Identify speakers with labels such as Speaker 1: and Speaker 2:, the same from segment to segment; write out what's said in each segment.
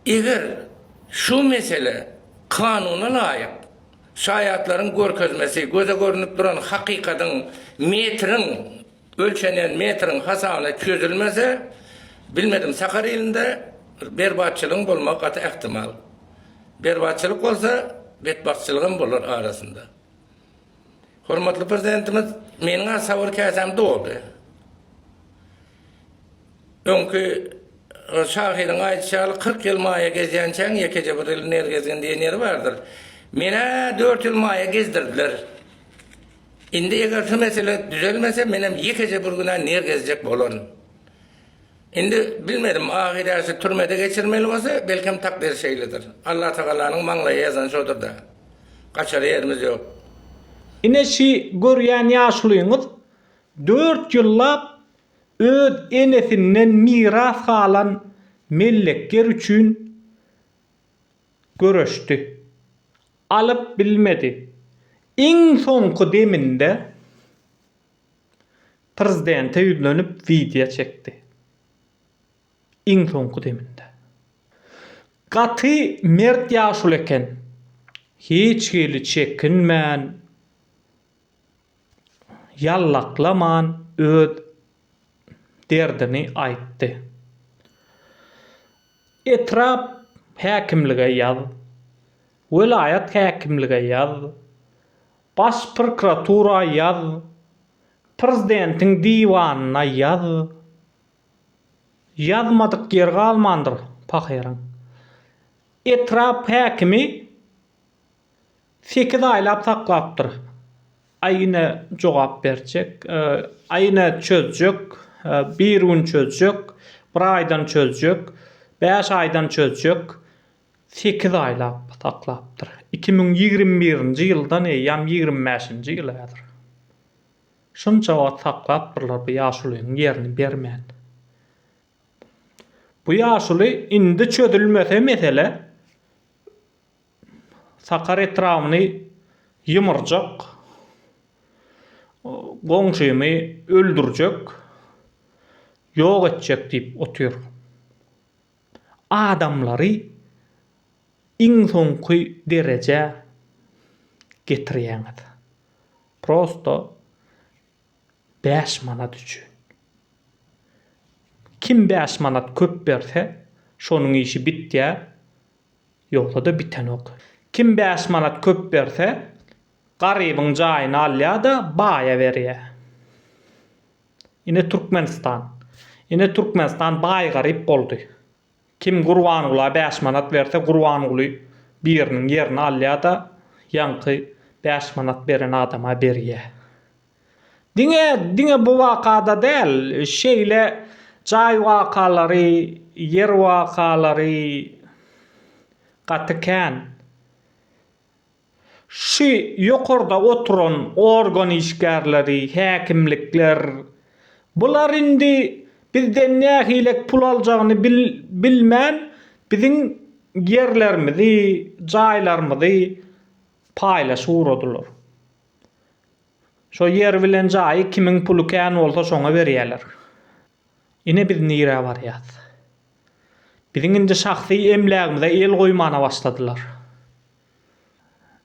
Speaker 1: Eger şu mesele kanuna laýyk, şaýatlaryň görkezmesi göze görnüp duran hakykatyň metriň, ölçenýän metriň hasabyna çözülmese, bilmedim, sakar ilinde berbatçylygyň bolmagy gaty ähtimal. Berbatçylyk bolsa, betbagtçylygam bolar arasynda. Hormatly Prezidentimiz, Meniň-ä sabyr käsäm doldy. Öňki şahyryň aýdyşy ýaly, Kyrk ýyl maýa gezýänçäň, ýekeje bir ýyl nergezgin diýen ýeri bardyr. Men-ä dört ýyl maýa gezdirdiler. Indi eger şu mesele düzelmese, menem ýekeje bir gün-ä nergezjek bolaryn. Indi bilmedim, ahyr ýaşy türmede geçirmeli bolsa, belkem takdyr şeýledir. Allatagalanyň maňlaýa ýazany şodur-da. Gaçara ýerimiz ýok. Ine
Speaker 2: şi görýän ýaşulyňyz dört ýyllap öz enesinden miras galan mellek ýer üçin göreşdi. Alyp bilmedi. Iň soňky deminde Prezidente ýüzlenip wideo çekdi. Iň soňky deminde. Gaty mert ýaşuly eken. Hiç hili çekinmän, ýallaklaman öz derdini aýtdy. Etrap häkimlige ýaz, welaýat häkimlige ýaz. Baş prokuratura ýaz, Prezidentiň diwanyna ýaz. Ýazmadyk ýer galmandyr pahyryň. Etrap häkimi sekiz aýlap saklapdyr. Aý ine jogap berjek. Aý ine çözjek. Bir gün çözjek. Bir aýdan çözjek. Bäş aýdan çözjek. sekiz aýlap saklapdyr. Iki müň ýigrimi birinji ýyldan eýýäm ýigrimi bäşinji ýyl häzir. Şunça wagt saklapdyrlar bu ýaşulynyň ýerini bermän. Bu ýaşuly indi çözülmese mesele Sakar etrabyny ýymyrjak, goňşymy öldürjek, ýok etjek diýip otyr. adamlary iň soňky derejä getirýäňiz prosto bäş manat üçin kim bäş manat köp berse şonuň işi bitýär ýogsada bitenok kim bäş manat köp berse garybyň jaýyny alýada baýa berýär. Ine Türkmenistan. Ine Türkmenistan baý garyp boldy. Kim Gurbangula bäş manat berse Gurbanguly biriniň ýerini alýada ýaňky bäş manat beren adama berýä. Diňe diňe bu wakada däl şeýle jaý wakalary ýer wakalary gaty kän. Şu ýokarda oturan organ işgärleri, häkimlikler, bular indi bizden nähilek pul aljagyny bilmän biziň ýerlerimizi, jaýlarymyzy paýlaşyp ugradylar. Şo ýer bilen jaýy kimiň puly kän bolsa şoňa berýärler. Ine biz nirä barýas. Biziň indi şahsy emlägimize el goýmana başladylar.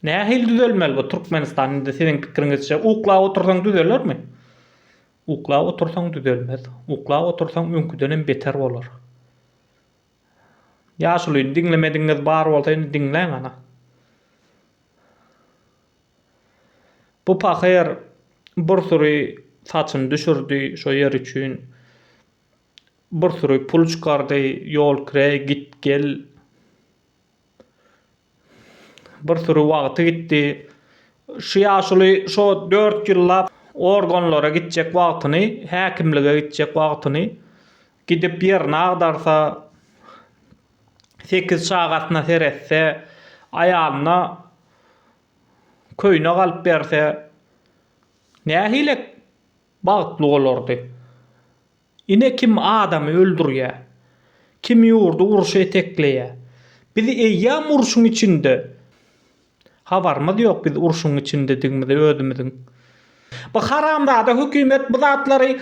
Speaker 2: Nähili düzelmeli bu Türkmenistan indi siziň pikiriňizçe? Uklap otursaň düzelermi? Uklap otursaň düzelmez. Uklap otursaň öňküdenem beter bolar. Ýaşulyny diňlemedigiňiz bar bolsa indi diňläň ana. Bu pahyr bir süri saçyny düşürdi şo ýer üçin. Bir süri pul çykardy, ýol kireý, git gel. Bir süri wagty gitdi. Şu ýaşuly şo dört ýyllap organlara gitjek wagtyny, häkimlige gitjek wagtyny gidip ýerini agdarsa, sekiz çagasyna seretse, aýalyna köýnek alyp berse, nähili bagtly bolardy? Ine kim adamy öldürýä. Kim ýurdy urşa etekleýä. Biz eýýam urşuň içinde. Habarymyz ýok biz urşuň içindedigimize özümiziň. Bu haramzada hökümet bu zatlary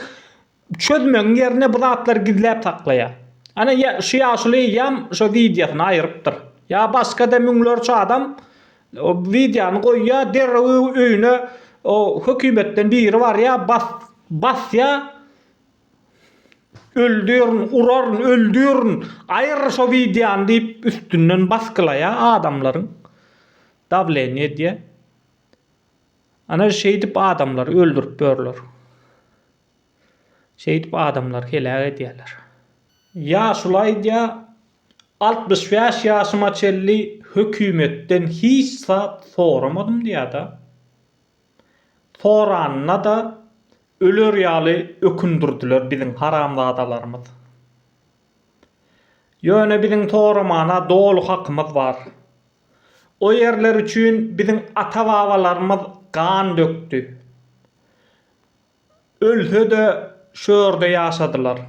Speaker 2: çözmegiň ýerine bu zatlary gizläp saklaýa. Ana şu ýaşuly eýýam şu wideosyny aýyrypdyr. Ýa başgada müňlerçe adam O wideony goýýa derrew öýüne o hökümetden biri barýa bas basýa öldürin uraryn öldürin aýyr şo wideony diýip üstünden basgylaýa adamlaryň dawleniýe edýä ana şeýdip adamlary öldürip ýörler. Şeýdip adamlary heläk edýärler. Ýaşuly aýdýar, Altmyş bäş ýaşyma çenli hökümetden hiç zat soramadym diýýär-de. Soranyna-da öler ýaly ökündirdiler biziň haramzadalarymyz. Ýöne biziň soramana doly hakymyz bar. O ýerler üçin biziň ata-babalarymyz gan dökdi. Ölse-de şu ýerde ýaşadylar.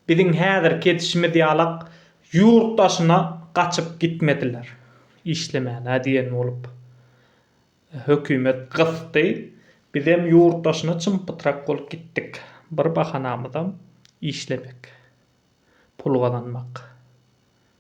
Speaker 2: Biziň häzirki edişimiz ýalak ýurt daşyna gaçyp gitmediler. Işlemäne diýen bolup hökümet gysdy. Bizem ýurt daşyna çym-pytrak bolup gitdik. Bir bahanamyzam işlemek. Pul gazanmak.